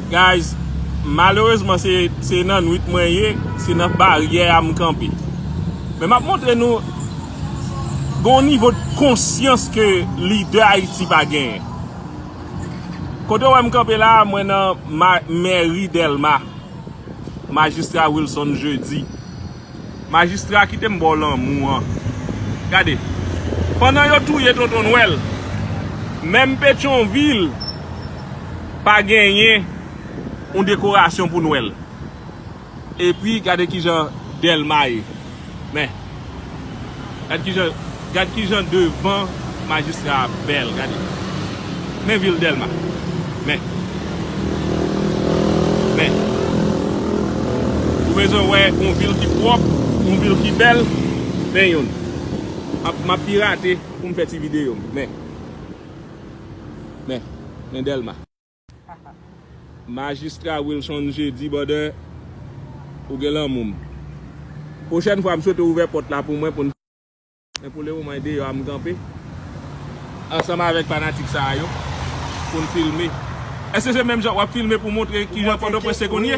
Guys malerezman se nan nwit mwen ye se nan baryè a m kanpe men map montre nou gon nivo de konsyans ke lidè ayiti pa genyen kote w wè m kanpe la mwen nan mèri dèlma majistra wilson jeudy Majistra kite m baw lanmou an. Gade. Pandan yo touye tonton nwèl. Menm petyon vil. Pa genyen. Yon dekorasyon pou nwèl. Epi gade kijan delma ye. Men. Gad kijan devan majistra a bèl gade men vil dèlma men men ou bezwen wè yon vil ki pwòp yon vil ki bèl men yon map pirate poum fè ti video m men men dèlma. Majistra Wilson Jeudi Bother ou gen lanmou m. Pwochèn fwa m swete w ouvè pòt la pou mwen pou n. Men pou le moman e deyò a m kanpe. Ansanm avèk fanatik sa a yo pou n filme. Èske se menm jan w ap filme pou w montre kijan Pòtoprens te konn ye?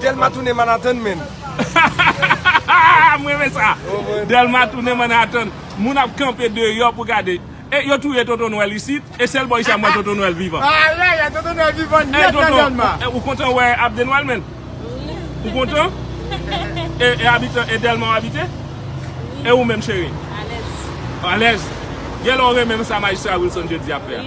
Delma tounen Manhattan menn. M renmen sa. Delma tounen Manhattan. Moun ap kanpe deyò pou gade. E yo touye Tonton Nwèl isit. E sèl bò isit m wè Tonton Nwèl vivan. Ayayay Tonton Nwèl vivan nèt nan Delma. Ou kontan wè Abde Nwèl menn? Ou kontan? E Delma w abite? E ou menm cheri? Alèz. Alèz. Gen lè w renmen sa Majistra Wilson Jeudi ap fè a?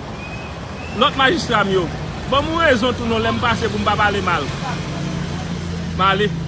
Lòt majistra m yo. Ban m yon rezon tou non lè m pase pou m pa pale mal. M ale.